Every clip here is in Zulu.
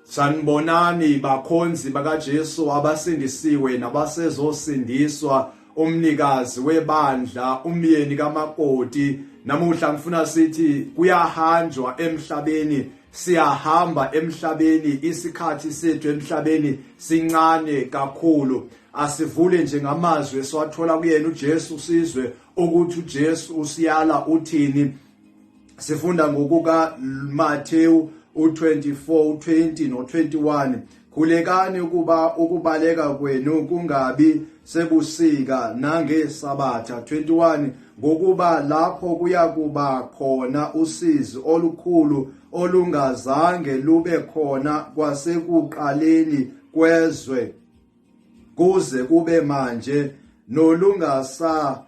Sanibonani bakhonzi bakaJesu abasindisiwe nabasezosindiswa umnikazi webandla umyeni kamakoti namuhla ngifuna sithi kuyahanjwa emhlabeni siyahamba emhlabeni isikhathi sethu emhlabeni sincane kakhulu asivule nje ngamazwi esiwathola kuyena uJesu sizwe ukuthi uJesu usiyala uthini sifunda ngokuka Matthew u24 u20 no21 khulekani ukuba ukubaleka kwenu kungabi sebusika nangesabatha 21 ngokuba lapho kuyakuba khona usizi olukhulu olungazange lube khona kwasekuqaleni kwezwe kuze kube manje nolungasa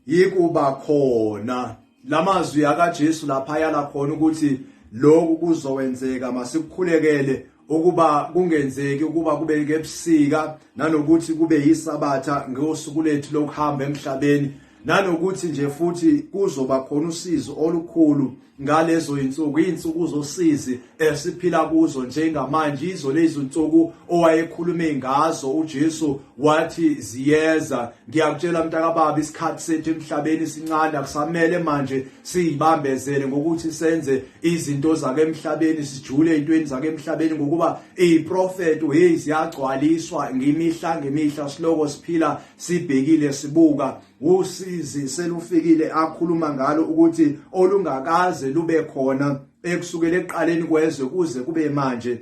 yikuba khona lamazwi akaJesu lapha yala khona ukuthi lokhu kuzowenzeka masikhulekele ukuba kungenzeki ukuba kube kebusika nanokuthi kube yisabatha ngosuku lethu lokuhamba emhlabeni nanokuthi nje futhi kuzoba khona usizo olukhulu ngalezo zinsuku izinsuku zosizi esiphila kuzo njengamanje izo lezinsuku owayekhulume ngazo uJesu wathi ziyeza ngiyakutshela mntakababa isikhathi sethu emhlabeni sincane akusamele manje siyibambezele ngokuthi senze izinto zake emhlabeni sijule ezintweni zake emhlabeni ngokuba iziprofeto hey ziyagcwaliswa ngemihla ngemihla siloko siphila sibhekile sibuka usizi selufikile akhuluma ngalo ukuthi olungakaze lube khona ekusukela eqaleni kwezwe kuze kube manje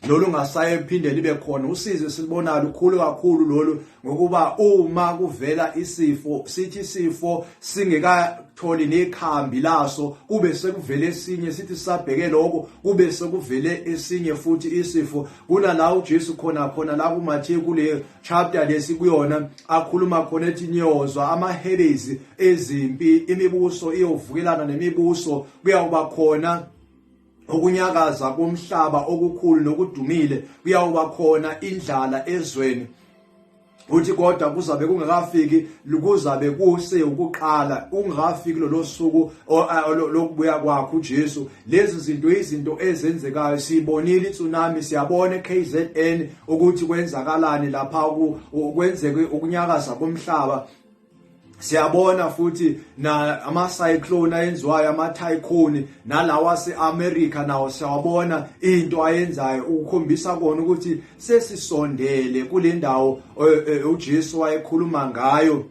lolu ngasaye phinde libe khona usizi silibona lukhulu kakhulu lolu ngokuba uma kuvela isifo sithi isifo singekatholi nekhambi laso kube sekuvele esinye sithi sabheke lokho kube sekuvele esinye futhi isifo kunala uJesu khona khona la kuMatthew kule chapter lesi kuyona akhuluma khona ethi niyozwa amahelezi ezimpi imibuso iyovukelana nemibuso kuyawuba khona ukunyakaza komhlaba okukhulu nokudumile kuyawuba khona indlala ezweni uthi kodwa kuzabe kungakafiki kuzabe kuse ukuqala ungafiki lolosuku lokubuya kwakhe uJesu lezi zinto izinto ezenzekayo sibonile itsunami siyabona eKZN ukuthi kwenzakalani lapha kwenzeke ukunyakaza komhlaba siyabona futhi na ama cyclone ayenziwayo ama tycoon nalawa seAmerica nawo siyabona into ayenzayo ukukhombisa kona ukuthi sesisondele kulendawo eh, eh, uJesu wayekhuluma ngayo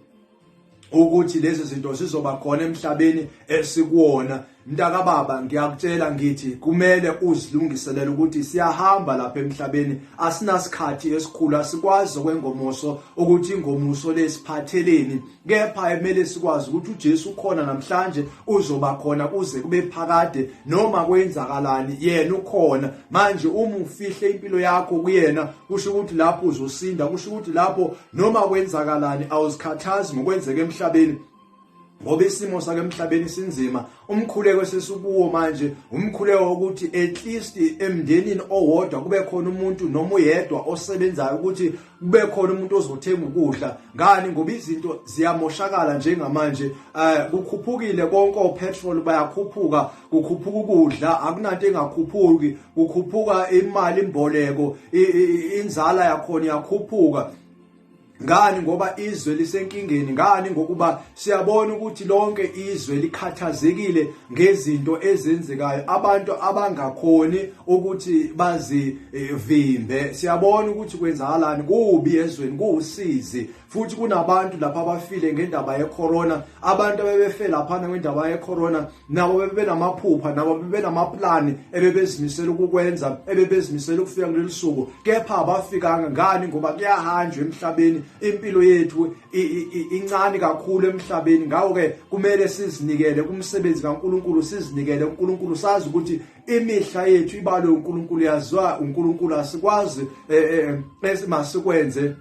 ukuthi lezi zinto zizoba khona emhlabeni esikuwona mntakababa ngiyakutshela ngithi kumele uzilungiselele ukuthi siyahamba lapha emhlabeni asinasikhathi esikhulu asikwazi okwengomuso ukuthi ingomuso lesiphatheleni kepha emele sikwazi ukuthi uJesu ukhona namhlanje uzoba khona kuze kube phakade noma kwenzakalani yena ukhona manje uma ufihle impilo yakho kuyena kusho ukuthi lapho uzosinda kusho ukuthi lapho noma kwenzakalani awuzikhathazi ngokwenzeka emhlabeni ngoba isimo sake emhlabeni sinzima umkhuleko esesikuwo manje umkhuleko wokuthi at least emndenini owodwa kube khona umuntu noma uyedwa osebenzayo ukuthi kube khona umuntu ozothenga ukudla ngani ngoba izinto ziyamoshakala njengamanje eh kukhuphukile konke opetrol bayakhuphuka kukhuphuka ukudla akunanto engakhuphuki kukhuphuka imali imboleko inzala yakhona iyakhuphuka ngani ngoba izwe lisenkingeni ngani ngokuba siyabona ukuthi lonke izwe likhathazekile ngezinto ezenzekayo abantu abangakhoni ukuthi bazivimbe siyabona ukuthi kwenzakalani kubi ezweni kuwusizi futhi kunabantu lapha abafile ngendaba yecorona abantu abebefe laphana ngendaba yecorona nabo bebenamaphupha nabo bebenamaplani ebebezimisela ukukwenza ebebezimisela ukufika kuleli suku kepha abafikanga ngani ngoba kuyahanjwa emhlabeni impilo yethu incane kakhulu emhlabeni ngakho-ke kumele sizinikele kumsebenzi kankulunkulu sizinikele unkulunkulu sazi ukuthi imihla yethu ibalwe unkulunkulu yaziwa unkulunkulu asikwazi um eh, eh, eh, masikwenze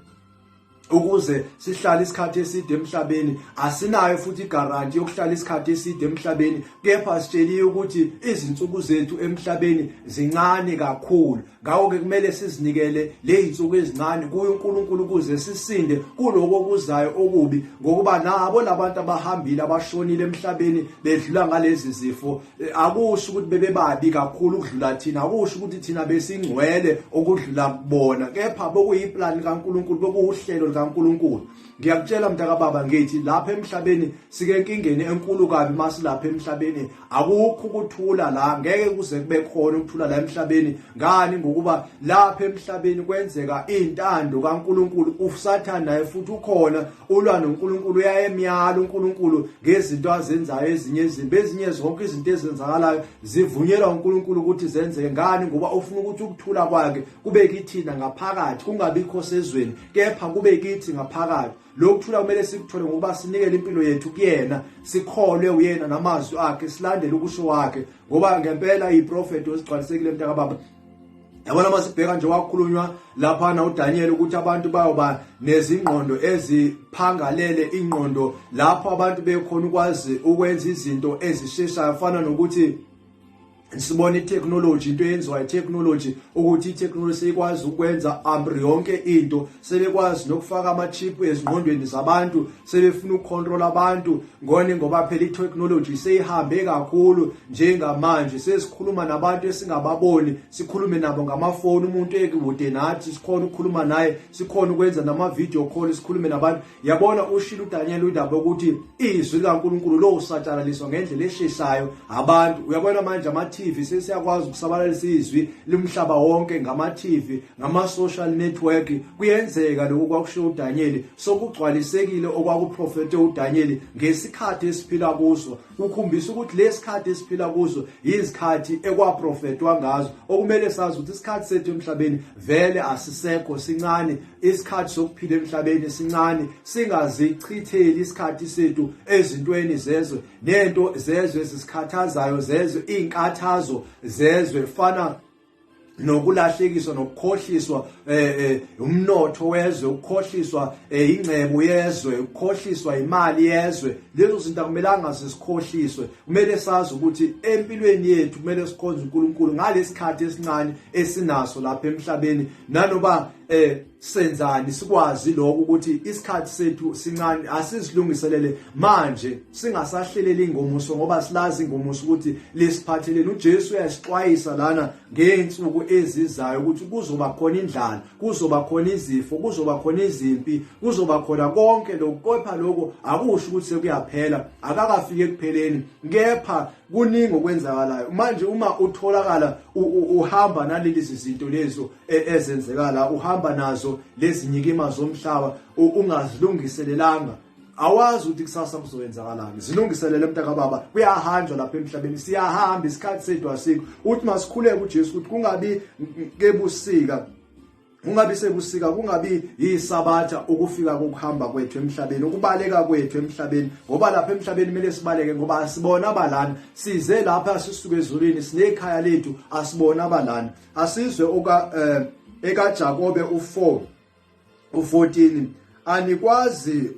ukuze sihlale isikhathi eside emhlabeni asinayo futhi igaranti yokuhlala isikhathi eside emhlabeni kepha sitsheliwe ukuthi izinsuku zethu emhlabeni zincane kakhulu ngakho ke kumele sizinikele lezinsuku ezincane kuye uNkulunkulu ukuze sisinde kuloko okuzayo okubi ngokuba nabo labantu abahambile abashonile emhlabeni bedlula ngalezi zifo Eh, akusho ukuthi bebebabi kakhulu ukudlula thina akusho ukuthi thina besingcwele okudlula kubona kepha bokuyiplan kaNkuluNkulu bokuwuhlelo likaNkuluNkulu ngiyakutshela mntaka baba ngithi lapha emhlabeni sike enkingeni enkulu kabi masilapha emhlabeni akukho ukuthula la ngeke kuze kube khona ukuthula la emhlabeni ngani ngokuba lapha emhlabeni kwenzeka intando kaNkuluNkulu usathana naye futhi ukhona ulwa noNkulunkulu uyayemyala uNkulunkulu ngezinto azenzayo ezinye izimbi ezinye zonke izinto ezenzakalayo zivunyelwa uNkulunkulu ukuthi zenzeke ngani ngoba ufuna ukuthi ukuthula kwakhe kube kithina ngaphakathi kungabikho sezweni kepha kube kithi ngaphakathi lokuthula kumele sikuthole ngokuba sinikele impilo yethu kuyena sikholwe uyena namazwi akhe silandele ukusho wakhe ngoba ngempela iprofeti osigcwalisekile mntakababa yabona uma sibheka nje wakhulunywa laphana uDaniel ukuthi abantu bayoba nezingqondo eziphangalele ingqondo lapho abantu bekhona ukwazi ukwenza izinto ezisheshayo fana nokuthi sibona itechnology into eyenziwa itechnology ukuthi itechnology seyikwazi ukwenza amri yonke into sebekwazi nokufaka ama-chip ezingqondweni zabantu sebefuna ukukhontrola abantu ngone ngoba phela i-technology seyihambe kakhulu njengamanje sesikhuluma nabantu esingababoni sikhulume nabo ngamafoni umuntu ekude nathi sikhona ukukhuluma naye sikhona ukwenza nama-video call sikhulume nabantu yabona ushilo uDaniel udaba ukuthi izwi likaNkuluNkulu lo usatshalaliswa ngendlela esheshayo abantu uyabona manje ama TV sesiyakwazi ukusabalalisa izwi limhlaba wonke ngama TV ngama social network kuyenzeka lokho kwakushiwo uDaniel sokugcwalisekile okwakuprofete uDaniel ngesikhathi esiphila kuso kukhombisa ukuthi lesikhathi esiphila kuso yizikhathi ekwaprofetwa ngazo okumele sazi ukuthi isikhathi sethu emhlabeni vele asisekho sincane isikhathi sokuphila emhlabeni sincane singazichitheli isikhathi sethu ezintweni zezwe nento zezwe ezisikhathazayo zezwe inkathazo zezwe fana nokulahlekiswa nokukhohliswa eh, eh umnotho wezwe ukukhohliswa eh, ingcebo yezwe ukukhohliswa imali yezwe lezo zinto akumelanga sisikhohliswe kumele sazi ukuthi empilweni yethu kumele sikhonze uNkulunkulu ngalesikhathi esincane esinaso lapha emhlabeni nanoba eh senzani sikwazi lokho ukuthi isikhathi sethu sincane asizilungiselele manje singasahleleli ingomuso ngoba silazi ingomuso ukuthi lesiphatheleni uJesu uyasixwayisa lana ngeensuku ezizayo ukuthi kuzoba khona indlala kuzoba khona izifo kuzoba khona izimpi kuzoba khona konke lokho kepha lokho akusho ukuthi sekuyaphela akakafiki ekupheleni kepha kuningi okwenzakalayo manje uma utholakala uhamba naleli zizinto lezo e, ezenzekala uhamba nazo lezi nyikima zomhlaba ungazilungiselelanga awazi ukuthi kusasa kuzoyenzakalani zilungiselele mntakababa kuyahanjwa lapha emhlabeni siyahamba isikhathi sethu asikho uthi masikhuleke uJesu ukuthi kungabi kebusika kungabi sebusika kungabi yisabatha ukufika kokuhamba kwethu emhlabeni ukubaleka kwethu emhlabeni ngoba lapha emhlabeni kumele sibaleke ngoba asibona abalana size lapha sisuke ezulwini sinekhaya lethu asibona abalana asizwe oka eh, ekaJakobe u4 u14 anikwazi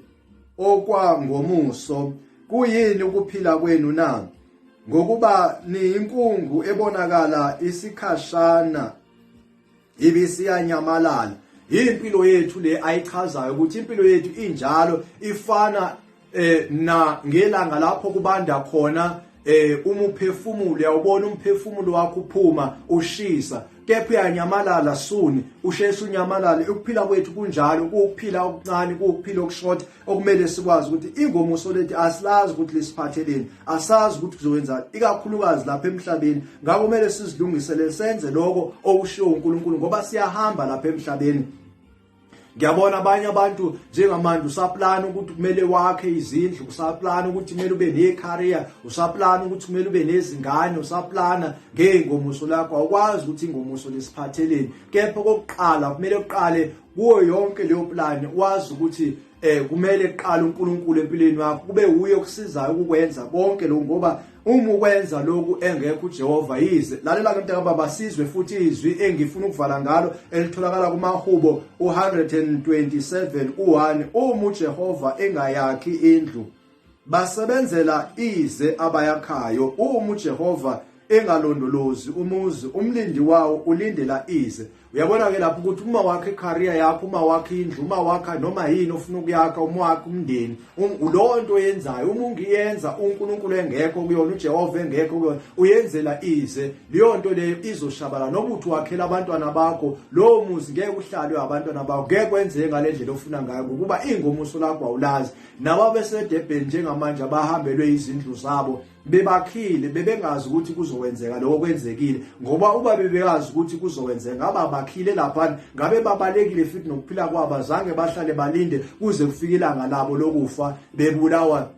okwangomuso kuyini ukuphila kwenu na ngokuba niyinkungu ebonakala isikhashana ibisiyanyamalala impilo yethu le ayichazayo ukuthi impilo yethu injalo ifana eh na ngelanga lapho kubanda khona eh uma uphefumulo uyawubona umphefumulo wakho uphuma ushisa kepha uyanyamalala suni usheshe unyamalale ukuphila kwethu kunjalo ukuphila okuncane ukuphila okushort okumele sikwazi ukuthi ingomuso lethu asilazi ukuthi lisiphatheleni asazi ukuthi kuzowenza ikakhulukazi lapha emhlabeni ngakho kumele sizilungisele senze lokho okushiwo uNkulunkulu ngoba siyahamba lapha emhlabeni ngiyabona abanye abantu njengamanje usaplana ukuthi kumele wakhe izindlu usaplana ukuthi kumele ube necareer usaplana ukuthi kumele ube nezingane usaplana ngeengomuso lakho awukwazi ukuthi ingomuso lesiphatheleni kepha kokuqala kumele uqale kuwo yonke leyo plan wazi ukuthi eh kumele kuqala uNkulunkulu empilweni yakho kube uye okusizayo ukukwenza konke lokho ngoba uma ukwenza lokhu engekho uJehova yize lalela ke mntaka baba sizwe futhi izwi engifuna ukuvala ngalo elitholakala kumahubo u127 u1 uma uJehova engayakhi indlu basebenzela ize abayakhayo uma uJehova engalondolozi umuzi umlindi wawo ulindela ize uyabona ke lapho ukuthi uma wakhe career yakho uma wakhe indlu uma wakha noma yini ofuna ukuyakha uma wakhe umndeni um, lowo nto oyenzayo uma ungiyenza uNkulunkulu engekho kuyona uJehova engekho kuyona uyenzela ize leyo nto leyo izoshabala noba uthi wakhela abantwana bakho lowo muzi ngeke uhlalwe abantwana bakho ngeke kwenzeke ngalendlela ofuna ngayo ngokuba ingomuso lakho awulazi Nawo abeseDurban njengamanje abahambelwe izindlu zabo bebakhile bebengazi ukuthi kuzowenzeka lokho kwenzekile ngoba uba bebeyazi ukuthi kuzowenzeka ngaba bakhile lapha ngabe babalekile futhi nokuphila kwabo azange bahlale balinde kuze kufike ilanga labo lokufa bebulawa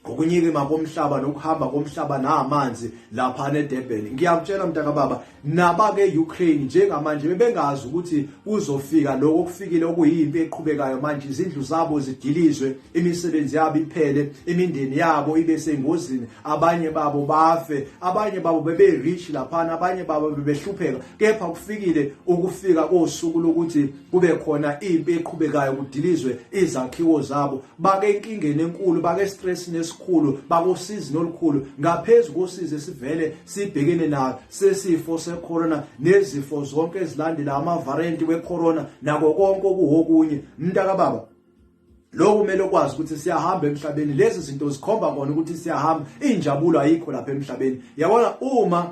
ngokunyikima komhlaba nokuhamba komhlaba namanzi lapha neDurban ngiyakutshela mntakababa nabake-Ukraine njengamanje bebengazi ukuthi kuzofika lokho okufikile okuyimpi eqhubekayo manje izindlu zabo zidilizwe imisebenzi yabo iphele imindeni yabo ibe sengozini abanye babo bafe abanye babo bebe-rich laphana abanye babo bebehlupheka kepha kufikile ukufika kosuku lokuthi kube khona impi eqhubekayo kudilizwe izakhiwo zabo bake enkingeni enkulu bake stress nesikhulu bakosizi nolukhulu ngaphezulu kosizi esivele sibhekene nayo sesifo secorona nezifo zonke ezilandela ama variant wecorona nako konke okuhokunye mntaka baba lokhu kumele ukwazi ukuthi siyahamba emhlabeni lezi zinto zikhomba kona ukuthi siyahamba injabulo ayikho lapha emhlabeni yabona uma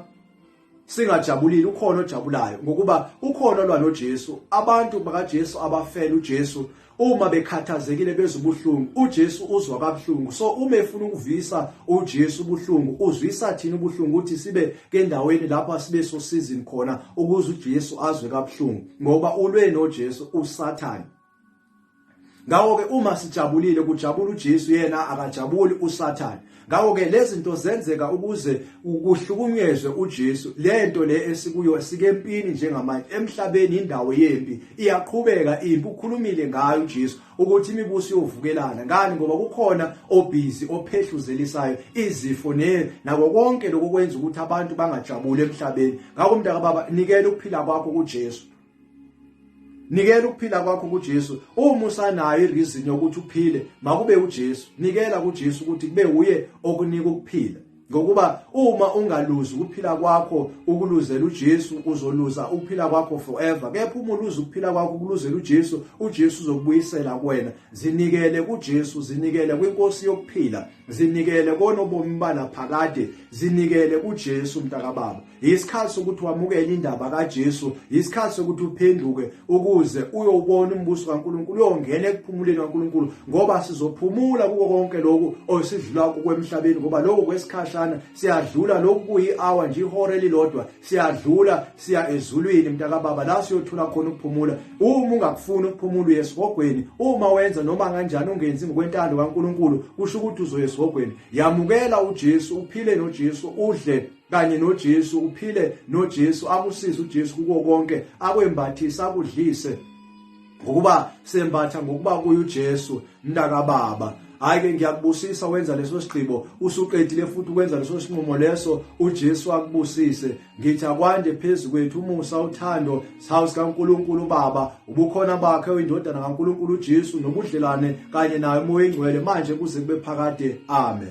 singajabulile ukhona ojabulayo ngokuba ukhona olwa noJesu abantu bakaJesu abafela uJesu uma bekhathazekile bezwa ubuhlungu uJesu uzwa kabuhlungu so uma efuna ukuvisa uJesu ubuhlungu uzwisa thina ubuhlungu ukuthi sibe kendaweni lapha sibe sosizini khona ukuze uJesu azwe kabuhlungu ngoba ulwe noJesu usathane ngawo ke uma sijabulile kujabula uJesu yena akajabuli uSathane ngawo ke lezi zinto zenzeka ukuze ukuhlukunyezwe uJesu lento le esikuyo sikempini njengamanje emhlabeni indawo yempi iyaqhubeka impi ukhulumile ngayo uJesu ukuthi imibuso yovukelana ngani ngoba kukhona obhizi ophehluzelisayo izifo ne nako konke lokho kwenza ukuthi abantu bangajabuli emhlabeni ngakho mntaka baba nikela ukuphila kwakho kuJesu nikela ukuphila kwakho kuJesu uma usanayo ireason yokuthi uphile makube uJesu nikela kuJesu ukuthi kube uye okunika ukuphila ngokuba uma ungaluzi ukuphila kwakho ukuluzela uJesu uzoluza ukuphila kwakho forever kepha uma uluza ukuphila kwakho ukuluzela uJesu uJesu uzokubuyisela kuwena zinikele kuJesu zinikele kwinkosi yokuphila zinikele konobomi banaphakade zinikele kuJesu mntakababa yisikhathi sokuthi wamukele indaba kaJesu yisikhathi sokuthi uphenduke ukuze uyobona umbuso kaNkuluNkulu uyongena ekuphumuleni kaNkuluNkulu ngoba sizophumula kuko konke lokhu osidlula kwemhlabeni ngoba lokho kwesikhashana siyadlula lokhu kuyi-hour nje ihora elilodwa siyadlula siya ezulwini mntakababa la siyothola khona ukuphumula uma ungakufuni ukuphumula uye esihogweni uma wenza noma kanjani ungenzi ngokwentando kaNkuluNkulu kusho ukuthi uzoya esihogweni yamukela uJesu uphile noJesu udle kanye noJesu uphile noJesu akusize uJesu kuko konke akwembathisa akudlise ngokuba sembatha ngokuba kuye uJesu mntaka baba hayi ke ngiyakubusisa wenza leso sigqibo usuqedile futhi ukwenza leso sinqumo leso uJesu akubusise ngithi akwande phezu kwethu umusa uthando sawu sikaNkuluNkulu baba ubukhona bakhe oyindodana kaNkuluNkulu uJesu nobudlelwane kanye naye umoya ingcwele manje kuze kube phakade amen